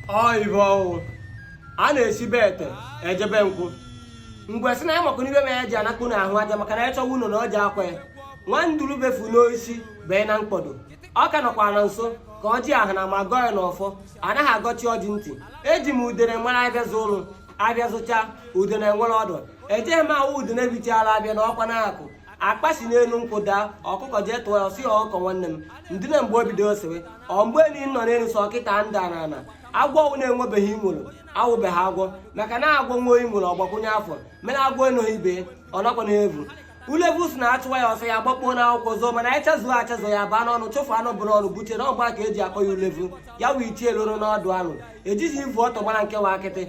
ọ ihe ọ wụ a na-esi be ete eje be nkwụ mbe sị na ya makwa n'ibe ma ya ji anakpụ n'ahụ aja maka na ya chọwa ụnọ na ọ ji akwa ya nwa nduru befu n'oisi bee na mkpọdo ọ ka nọkwa na nso ka ọjị ahụ na ma gọọ ya n'ọfọ anaghị agọchi ọjị ntị eji m udene mara abịa zụ ụlụ abịa zụcha udene nwere ọdụ ejeghị m awụ udene bichaala abịa na ọkwa na-akụ akpa si n'enu nkwụ daa ọkụkọ jee tụọ ya ọ sị ya ọkụkọ nwanne m ndine mgbe o bido sewe ọ mgbe enyi nọ n'enu sọ kịta m da n'ana agwọ ọwụna enwebeghị inworo awụbeghị agwọ maka na agwọ nwe inworo ọgbakwụnye afọ mere agwọ enoghị ibe ọ nakwa na-evu ulevu sị na a chụwa ya ọsọ ya gbakpuo n'akwụkwọ zoo mana anyị chazụo achazụ ya baa n'ọnụ chụfụ anụ bu n'ọnụ buchie na ọgba ka eji akpọ ya ulevu ya wee ichie lụrụ n'ọdụ anụ ejighị ivu ọtọ gbara nkewa akịtị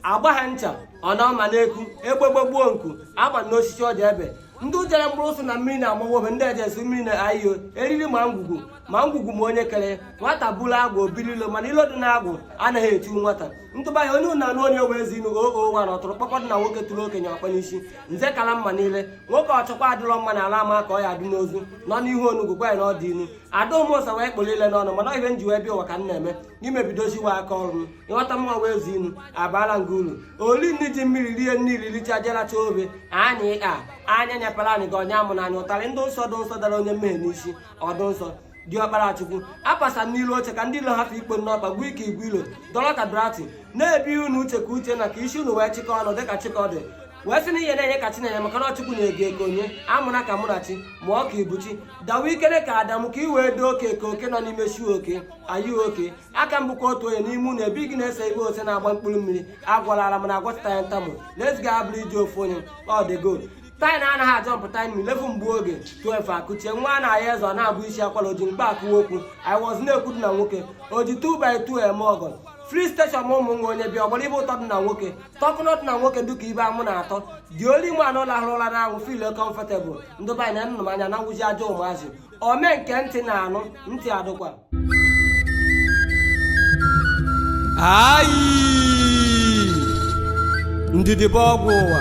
agba ha ncha ọ na ọma n'eku egbe gbegbuo nku agba n'osisi ọ dị ebe ndị jere mkpụrụ ụsụ na mmiri na-amawobe ndị ejesi mmiri na ayo eriri ma ngwugwu ma ngwugwu ma onye kere nwata bụrụ agwụ obiri ilo mana ilo dị na agwụ anaghị eti nwata ntụba ya onye na-anụ onye wee zi inu oo nwa na ọtụrụ kpọkọdụ na nwoke tụrụ okenye ọkpa n'isi nze kala mma niile nwoke ọchọkwa adịrọ mma n'ala ama ka ọ ya adị n'ozu nọ n'ihu onugwu gwa ya na ọ dị inu ada ụmụsa wee kpọrọ ile n'ọnụ mana ọ ihe m ji wee bịa ụwa ka m na-eme imebidoziwa aka ọrụ m ịghọta mma wee zi inu abara nga unu oli nri ji mmiri rie nri riricha je racha ofe anyị a anya nyapara anyị ga ọnya amụ na anyị ụtarị ndị nsọ dị nsọ dara onye mmehie n'isi ọdụ nsọ diọkpara chukwu apasa n'ilu oche ka ndị ilo hafụ ikpo n'ọkpa gwa ike igwe ilo dọrọ ka drati na-ebi unu uche ka uche na ka isi unu wee chịkọ ọnụ dịka Chikọdị wee sị na ihe na-enye ka Chinenye maka na ọ Chukwu na-eke eke onye amụna ka mụ na chi mụọ ka ibuchi dawa ikere ka Adam ka i wee doo oke ka oke nọ n'ime shu oke anyị oke aka m bụkwa otu onye n'ime unu ebe gị na-ese igbe ose na-agba mkpụrụ mmiri agwalara m na agwọtụta ya ntamụ let's go abụrụ iji ofu onye ọ dị gold taị na anaghị ajọ mpụta imi lefu mgbe oge 12 akụchie nwa a na-ahịa eze ọ na-abụ isi akwara oji mkpa akụwa okwu i was na-ekwuru na nwoke oji 2 by 2 eme ọgọ free station ma ụmụ nwa onye bịa ọ gbara ihe ụtọ dị na nwoke talk not na nwoke dịka ihe amụ na-atọ dị olu ime anụ lahụrụ ụla n'anwụ feel comfortable ndị banyị na nnụnụ anya na nwụji ajọ ụmụazị ome nke ntị na-anụ ntị adụkwa ayi ndidi bụ ọgwụ ụwa